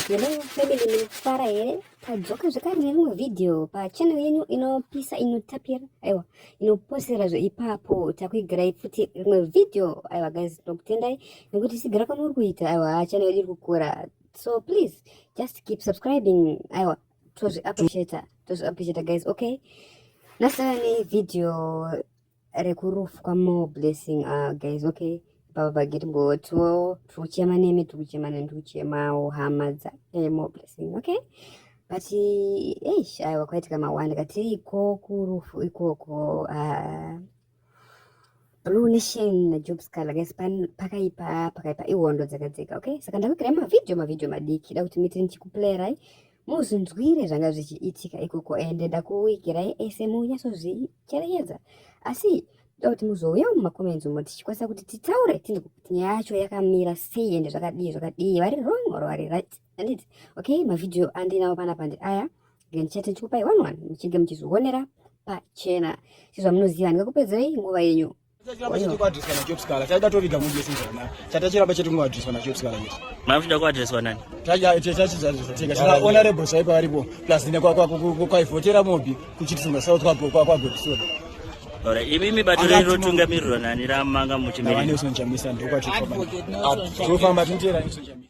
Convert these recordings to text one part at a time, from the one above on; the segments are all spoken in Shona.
Hello family, mnafara here? Tadzoka zvekare neimwe video pachannel yenyu inopisa inotapira aiwa inoposera zveipapo takuigirai futi rimwe video aiwa guys ndokutendai nekuti sigara kwamuri kuita aiwa channel yedu iri kukura so please just keep subscribing aiwa tozvi appreciata tozvi appreciata guys okay nasara nevideo rekurufu kwamore blessing uh, guys okay baba bageti mbotiwo tiri kuchema nemi tiri kuchema nemi tiri kuchemawo hama dzaemo blessing okay but eish aiwa kwaitika mawanda katiriko kurufu ikoko uh, Blue Nation na Job Scala guys pan pakaipa pakaipa ihondo dzakadzeka okay saka ndakuirai mavideo mavideo madiki da kuti muite ndichikuplayerai muzvinzwire zvanga zvichiitika ikoko ende ndakuigirai ese munyatsozvicherechedza asi da kuti muzouya mumacomments umo tichikwanisa kuti titaure tine kuti nyaya yacho yakamira sei ende zvakadii zvakadii vari wrong or vari right anditi okay mavideo andinawo panapa ndi aya then chete ndichikupai one one muchinge muchizvionera pachena sezvamunoziva handingakupedzerei nguva yenyu chachiramba chete kuadreswa nachopskala chaida toviga mundi yese zvakanaka chatachiramba chete kunoadreswa nachopskala kuti makuchida kuadreswa nani chachiadresatega chakaona rebho chaipa varipo plus nekwaivhotera mobi kuchitisunga south kwagopisona Ora imimi bato rero tungamirirwa nani ramanga muchimiri. Ndofamba tintera isu chamisa.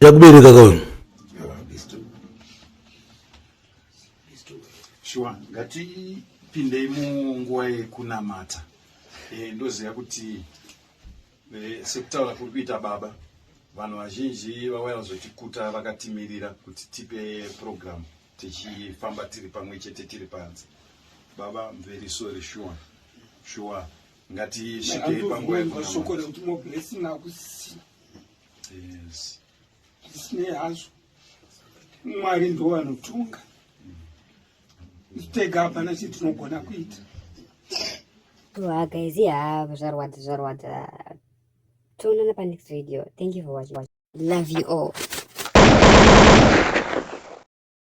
yakubereka kauyu shuwa ngatipindei munguva yekunamata e, ndoziva kuti e, sekutaura kuri kuita baba vanhu vazhinji vauya vazotikuta vakatimirira kuti tipe purogiramu tichifamba tiri pamwe chete tiri panze baba mveri sori shuwa shuwa ngatisvikei panguva yekunamata zvisinei hazvo mwari ndo vanotunga tega hapana chii tinogona kuita guys ya zvarwadza zvarwadza toonana panext video thank you for watching love you all